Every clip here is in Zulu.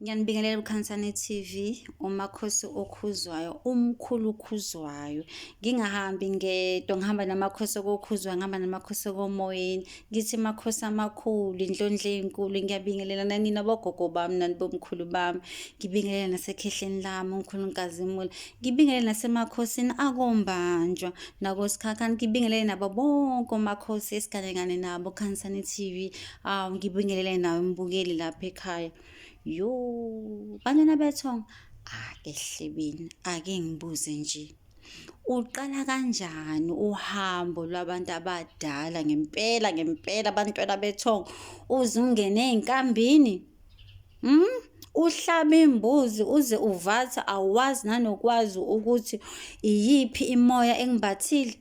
Ngiyanibingelela uKhansane TV, uMakhosi okhuzwayo, umkhulu okhuzwayo. Ngingahambi ngedwa, ngihamba namakhosi okokhuzwa, ngihamba namakhosi okomoyeni. Ngithi makhosi amakhulu, indlondle enkulu. Ngiyabingelela nanina bogogo bami, nani bomkhulu bami. Ngibingelela nasekhehleni lami, umkhulu Nkazimula. Ngibingelela nasemakhosini akombanjwa, nakosikhakhani. Ngibingelela nabo bonke omakhosi esigane ngane nabo, Khansane TV. aw ngibingelele nawe mbukeli lapha ekhaya yo bantwana bethong ake hlebeni ake ngibuze nje uqala kanjani uhambo lwabantu abadala ngempela ngempela abantwana bethong uze ungene ezinkambini mm uhlaba imbuzi uze uvatha awazi nanokwazi ukuthi iyiphi imoya engibathile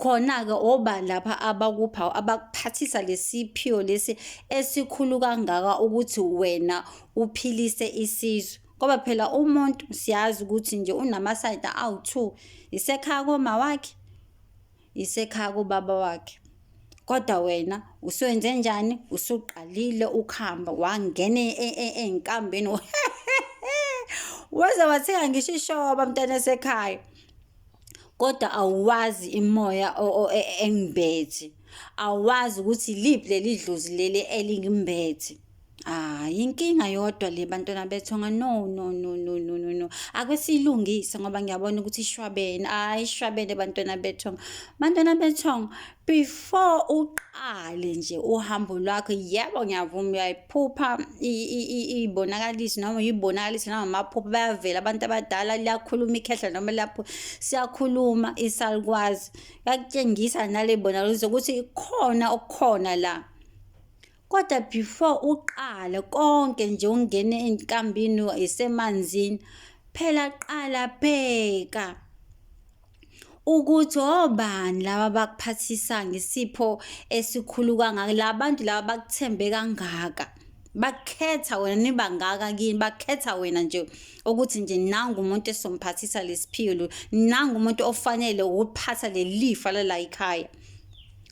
Khona-ke obani lapha abakupha abakuphathisa lesiphiwo lesi esikhulu kangaka ukuthi wena uphilise isizwe. Ngoba phela umuntu siyazi ukuthi nje unamasayidi awu-two, isekhaya komawakhe, isekhaya kobaba wakhe. Kodwa wena usuwenze njani? Usuqalile ukuhamba wangena e, e, e, eyinkambeni waze wathenga ngisho ishoba mntana esekhaya kodwa awuwazi imoya engibethi awazi ukuthi liphi leli dlozi leli elingimbethe Ah, yinkinga yodwa le bantwana bethu nga no no no no no no no. Ake silungise ngoba ngiyabona ukuthi ishwabene. Hayi ishwabene bantwana bethu. Bantwana bethu before uqale nje uhambo lwakho yebo ngiyavuma uyayiphupha ibonakalisi noma uyibonakalisi noma amaphupha bayavela abantu abadala liyakhuluma ikhehla noma lapho siyakhuluma isalukwazi. Yakutshengisa nale bonakaliso ukuthi ikhona okukhona la. Kodwa before uqale konke nje ungene enkambini isemanzini phela qala bheka ukuthi obani laba bakuphathisa ngesipho esikhulu kangaka la bantu laba bakuthembe kangaka bakhetha wena nibangaka kini bakhetha wena nje ukuthi nje nangu umuntu esomphathisa lesiphiwo nangu umuntu ofanele ukuphatha lelifa lala ikhaya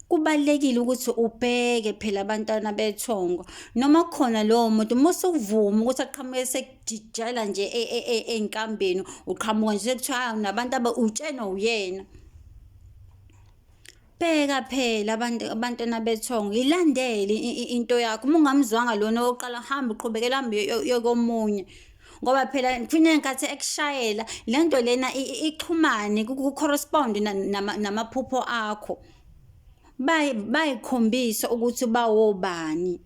kubalulekile ukuthi ubheke phela abantwana bethongo noma khona lowo muntu uma usukuvuma ukuthi aqhamuke sekujijela nje e, e, e, enkambeni uqhamuka nje sekuthiwa hayi unabantu aba utshena uyena bheka phela abantu abantwana bethongo ilandele into yakho uma ungamzwanga lona oqala hamba uqhubekela hambe yokomunye ngoba phela kufina ngenkathi ekushayela le nto lena ixhumane ku-correspond namaphupho akho bayikhombisa ukuthi bawobani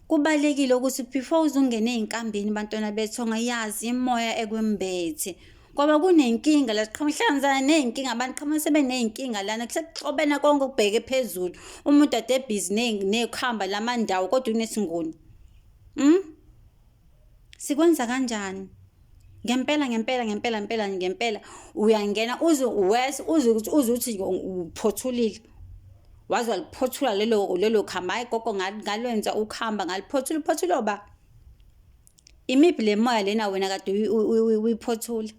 kubalekile ukuthi before uzungene ezinkambini bantwana bethu ongayazi imoya ekwembethe ngoba kunenkinga la siqhamuhlangana nezinkinga abantu qhamuka sebenezinkinga lana kusekuxobena konke ukubheke phezulu umuntu ade busy nekhamba lamandawo kodwa unesingoni mm Sikwenza kanjani? ngempela ngempela ngempela ngempela ngempela uyangena uze uwese uze ukuthi uze uthi uphothulile waze waliphothula lelo lelo khamba hayi gogo ngalwenza ukuhamba ngaliphothula uphothula ba imiphi le moya lena wena kade uyiphothula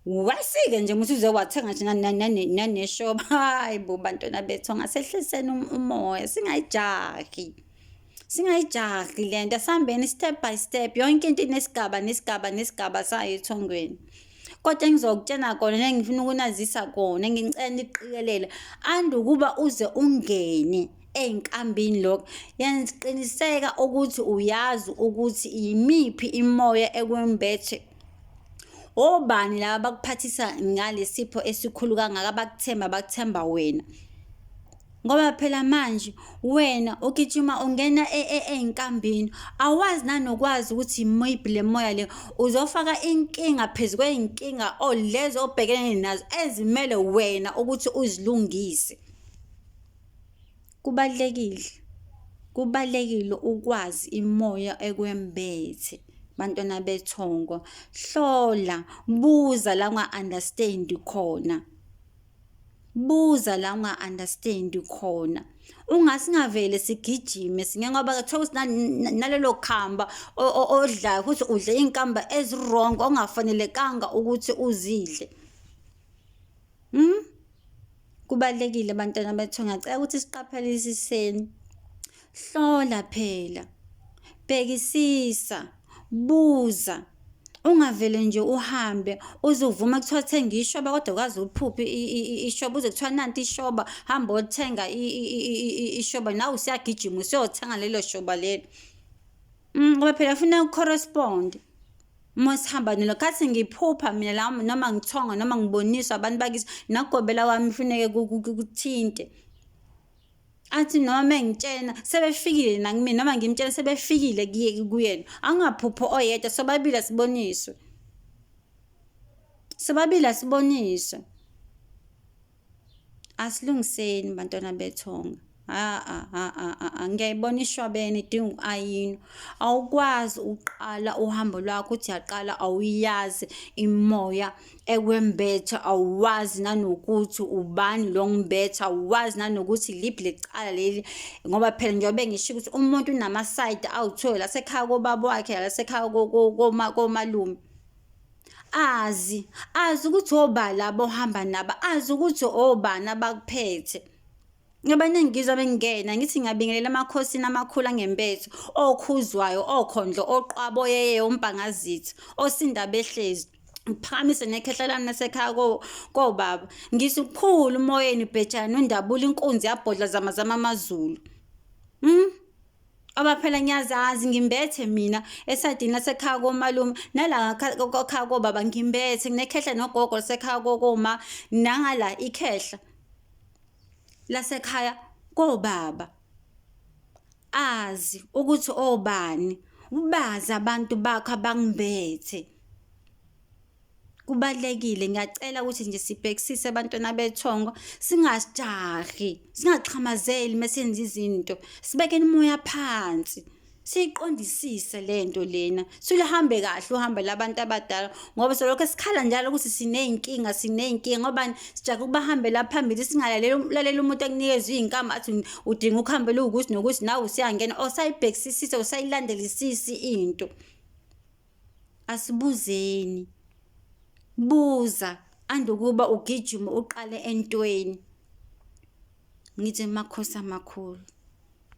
wasike nje muthi uze wathenga nje naneshoba hayi bo bantwana bethu angasehliseni um-, umoya singayijahi singayijahi le nto asihambeni step by step yonke into inesigaba nesigaba nesigaba sayo ethongweni kodwa engizokutshena kona nengifuna ukunazisa kona ngicela niqikelele andukuba uze ungene ezinkambini lokho yenza qiniseka ukuthi uyazi ukuthi yimiphi imoya ekwembethe obani laba bakuphathisa ngalesipho esikhulu kangaka bakuthemba bakuthemba wena ngoba phela manje wena ugijima ungena e, e, ezinkambini awazi nanokwazi ukuthi maybe le moya le uzofaka inkinga phezu kwey'nkinga or oh, lezo obhekene nazo ezimele wena ukuthi uzilungise Kubalulekile, kubalulekile ukwazi imoya ekwembethe bantwana bethongo. Hlola, buza la unga-understand khona. Buza la unga-understand khona. Ungasingavele sigijime singe ngoba kuthiwa ukuthi nalelo khamba odlayo ukuthi udle iy'nkamba ezi-wrong ongafanelekanga ukuthi uzidle. Mm? Kubalekile bantwana bethu ngacela ukuthi siqaphelisiseni. Hlola phela. Bhekisisa, buza. Ungavele nje uhambe uzovuma kuthiwa thenga ishoba kodwa kwazi uphuphi ishoba uze kuthiwa nanti ishoba hamba othenga ishoba nawe usiyagijima usiyothenga lelo shoba lelo. Mm, ngoba phela funa ucorrespond. masihamba nina khathi ngiphupha mina la noma ngithonga noma ngiboniswa abantu bakithi nagobela kwami kufuneke kuthinte athi noma mengitshena sebefikile nakumina noma ngimtshena sebefikile kuyena angaphupho oyedwa sobabili asiboniswe sobabili asiboniswe asilungiseni bantwana bethonga ngiyayibona ishwabene idinga uku-ayinwa awukwazi ukuqala uhambo lwakho uthi yaqala awuyazi imoya ekwembetha awuwazi nanokuthi ubani lo ngimbetha awuwazi nanokuthi liphi lecala leli ngoba phela njengobe ngisho ukuthi umuntu unamasayidi awuthole lasekhaya kobaba wakhe lasekhaya komalume azi azi ukuthi obala abohamba nabo azi ukuthi obani abakuphethe Abaningi ngizwa bengena ngithi ngiyabingelela amakhosini amakhulu angempethu okhuzwayo okhondlo oqwabo yeye umbhangazithi osinda behlezi ngiphamise nekhehla lami nasekhaya kobaba ngisikhulu umoyeni bhejana undabula inkunzi yabhodla zama zama amazulu mm? Oba phela ngiyazazi ngimbethe mina esadini lasekhaya komalume nala kokhaya kobaba ngimbethe nginekhehla nogogo lasekhaya kokoma nangala ikhehla lasekhaya kobaba azi ukuthi obani ubazi abantu bakho abangibethe kubalekile ngiyacela ukuthi nje sibhekisise abantwana bethongo singajahi singaxhamazeli mesenza izinto sibekeni umoya phansi siyiqondisise lento lena siluhambe kahle uhambe labantu abadala ngoba solokho sikhala njalo ukuthi sineyinkinga sineyinkinga ngoba sijake ukubahambela phambili singalaleli umuntu akunikeza iyinkamba athi udinga ukuhambe luwukuthi nokuthi nawe usiyangena osayibhekisisise usayilandelisisi into asibuzeni buza andukuba ugijima uqale entweni ngithi makhosi amakhulu